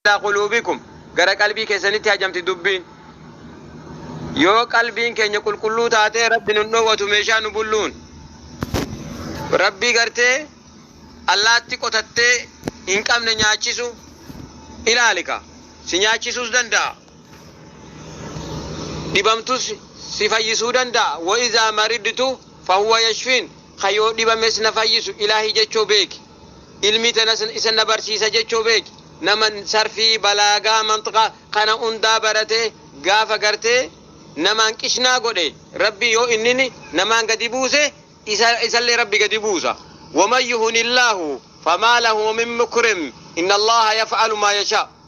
Alaa quluubikum, gara qalbii keessanitti hajamti dubbiin. Yoo qalbiin keenya qulqulluu taatee Rabbi nun dhoowwatu meeshaa nu bulluun. Rabbii gartee allaatti qotattee hin qabne nyaachisu ilaalika. Si nyaachisuus danda'a. Dhibamtus si fayyisuu danda'a. Wa izaa maridtu fahuwa yashfiin. Ka yoo dhibames na fayyisu Ilaahi jechoo beeki. Ilmii tenas isan na barsiisa jechuu beeki nama sarfii balaagaa manxqa kana hundaa baratee gaafa gartee namaan qishnaa godhe rabbii yoo innini namaan gadi buuse isa isallee rabbi gadi buusa waman yuhunillaahu famaa lahu min mukrim innallaha yaf'alu maa yashaa.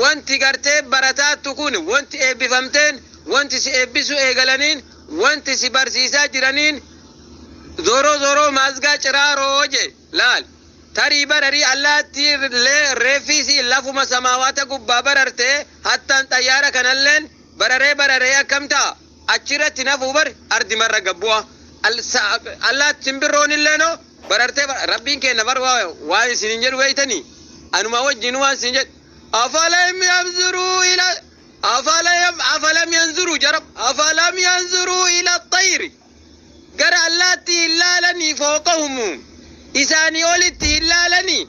Wanti garteen barataattu kun, wanti eebbifamteen, wanti si eebbisuu eegalaniin, wanti si barsiisaa jiraniin Zoro zoro maazgaa ciraaroo je, laal. Tarii bararii allaattii llee reeffii isii lafuma samaawaata gubbaa barartee hattaan xayyaara kanalleen bararee bararee akkam ta'a? Achi irratti hin hafuu bar ardi marra gad bu'a. Al, sa, allaat, simbirroon illee noo barartee bar, Rabbiin keenna bar waa, waan isiniin jedhu beeytanii? Anumaa wajjiinu waan siin jedhu. Afalam yamzuruu ila, afalam, afalam yanzuruu jarab, afalam yanzuruu ila xayri. Gara allaattii hin laalanii fooqahumu. Isaanii olitti hin laalanii?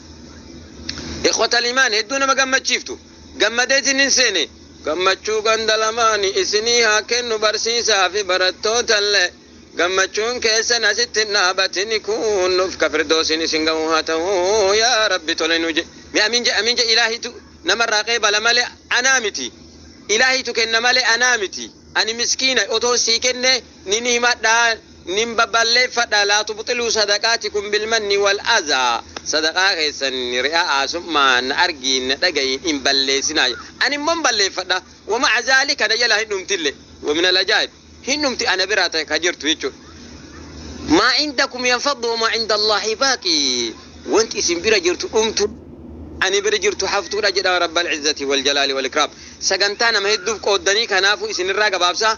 Ikhwatal imaan hedduu nama gammachiiftu. Gammadeetiin hin seene. Gammachuu ganda lamaani isinii haa kennu barsiisaa fi barattootallee. Gammachuun keessan asitti hin dhaabatini kuunnuf ka firdoosiin isin ga'u haa ta'u yaa rabbi tole nu je. Mee amiin je amiin je ilaahitu namarraa qeebala malee anaa miti. Ilaahitu kenna malee anaa miti. Ani miskiina otoo sii kennee nin himadha, nin baballeeffadha, laa tubxiluu sadaqaatikum bilmanni wal azaa, sadaqaa keessan ri'a'aasummaan na argiin na dhaga'iin hin balleessinaa jedhe. Ani immoo hin balleeffadha, wa ma'a zaalika na jalaa hin dhumtille, wa minal ajaa'ib, hin dhumti ana biraa ta ka jirtu jechuudha. Maa indakum yanfaddu wa maa indallaahi baaqi, wanti isin bira jirtu dhumtu, ani bira jirtu haftuudha jedha Rabbal izzati wal jalaali wal ikraam. Sagantaa nama hedduuf qooddanii kanaafuu isinirraa gabaabsa.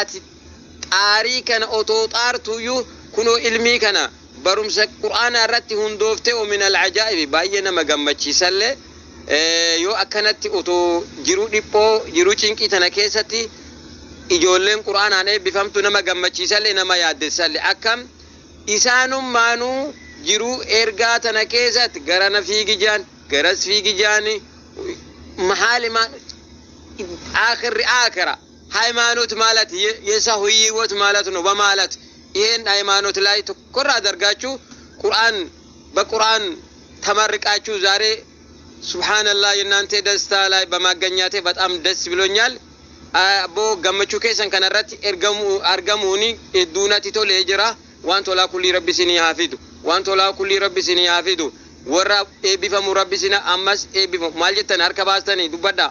Ati xaarii kana otoo xaartuuyyuu kunoo ilmii kana barumsa Qur'aanaa irratti hundooftee wa minal ajaa'ibi baay'ee nama gammachiisallee yoo akkanatti otoo jiruu dhiphoo jiruu cinqii tana keessatti ijoolleen Qur'aanaan eebbifamtu nama gammachiisallee nama yaaddessallee akkam isaanummaanuu jiruu ergaa tana keessatti garana fiigi ja'an garas fiigi ja'anii mahaali maan aakhirri aakhira Hayimaanot maalat yesa huyi hiwot maalat no bamaalat iheen hayimaanot laay tokkorraa dargaachuu quraan ba quraan tamarriqaachuu zaaree subhaanallah yennante dastaa laay bamaagganyaate baxaam das bilonyaal abboo gammachuu keessan kana irratti argamuuni hedduu natti tolee jira waan tolaa kullii rabbi isinii haa fidu waan tolaa kullii rabbi isinii haa fidu warra eebbifamu rabbi isin ammas eebbifamu maal jettan harka baastani dubbadhaa.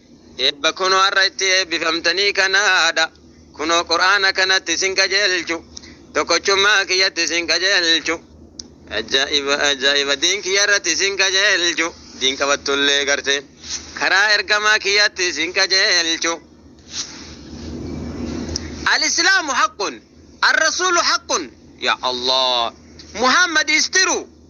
Eebba kunoo har'a itti eebbifamtanii kanaadha. Kunoo Qur'aana kanatti isin qajeelchu. Tokkochummaa kiyyatti isin qajeelchu. Ajaa'iba ajaa'iba diin kiyya irratti isin qajeelchu. Diin qabattullee gartee karaa ergamaa kiyyatti isin qajeelchu. Al-Islaamu haqqun. Al-Rasuulu haqqun. Yaa Allah. Muhammad is true.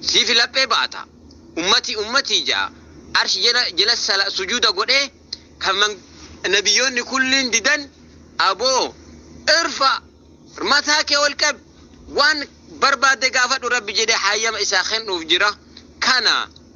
Siifi laphee baata. Ummatii ummatii ja'a Arsh jala jala sala sujuuda godhee kan man Nabiyyoonni kulliin didan Aboo irfa rmataa kee ol qab waan barbaadde gaafadhu Rabbi jedhee haayyama isaa kennuuf jira. Kana.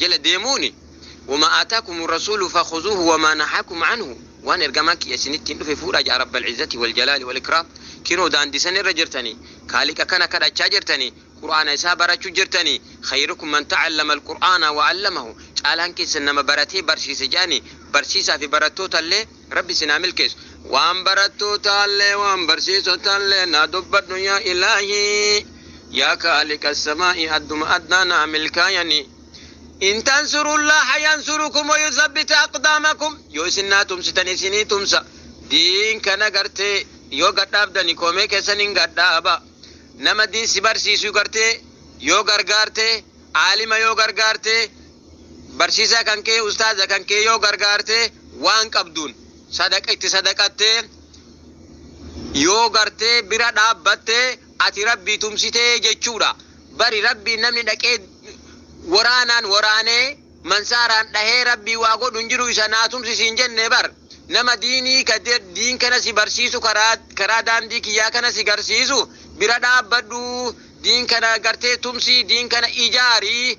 jala deemuuni Wamaa aataakumu rasuulu fakhuzuuhu wamaa nahaakum canhu Waan ergamaan kiyya isinittiin dhufe fuudhaa ja'a Rabbal izzati wal jalaali wal ikraam Kinoo daandii san irra jirtanii khaaliqa kana kadhachaa jirtanii qur'aana isaa barachu jirtanii khayrukum man ta'allama alqur'aana wa 'allamahu caalaan keessan nama baratee barsiise je'anii barsiisaa fi barattoota illee Rabbi isin haa milkeessu. Waan barattootallee waan barsiisotallee naa dubbadhu yaa ilaahii yaa kaaliqa samaa'i adduma addaa naa milkaayani in tansurullaaha yansurukum wa yuthabbit aqdaamakum yoo isin naa tumsitan isinii tumsa diin kana gartee yoo gadhaabdani koomee keessan hin gadhaaba nama diin si barsiisu gartee yoo gargaarte aalima yoo gargaarte Barsiisaa kan kee, ustaaza kan kee yoo gargaarte waan qabduun sadaqa itti sadaqattee yoo gartee bira dhaabbatte ati rabbii tumsitee jechuudha. Bari rabbiin namni dhaqee waraanaan waraanee mansaaraan dhahee rabbii waa godhu hin jiru isa naa tumsi siin jenne bar nama diinii ka de- diin kana si barsiisu karaa karaa daandii kiyyaa kana si garsiisu bira dhaabbadhu diin kana gartee tumsi diin kana ijaari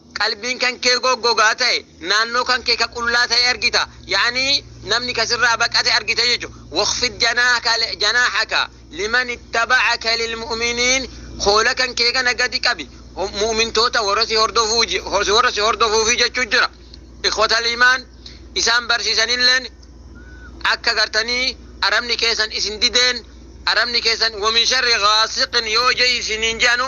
Qalbiin kan kee goggogaa ta'e, naannoo kan kee ka qullaa ta'e argita. Ya'anii namni ka sirraa baqate argita jechu. Wakhfid janahaka janahaka liman ittaba'aka lilmu'miniin Koola kan kee kana gadi qabi mu'mintoota warra si hordofuu ji- hor- warra si hordofuufi jechuu jira. Ikhwatal imaan isaan barsiisanilleen akka gartanii arabni keessan isin dideen arabni keessan wamin sharri gaasiqin yoo je isiniin jedhanu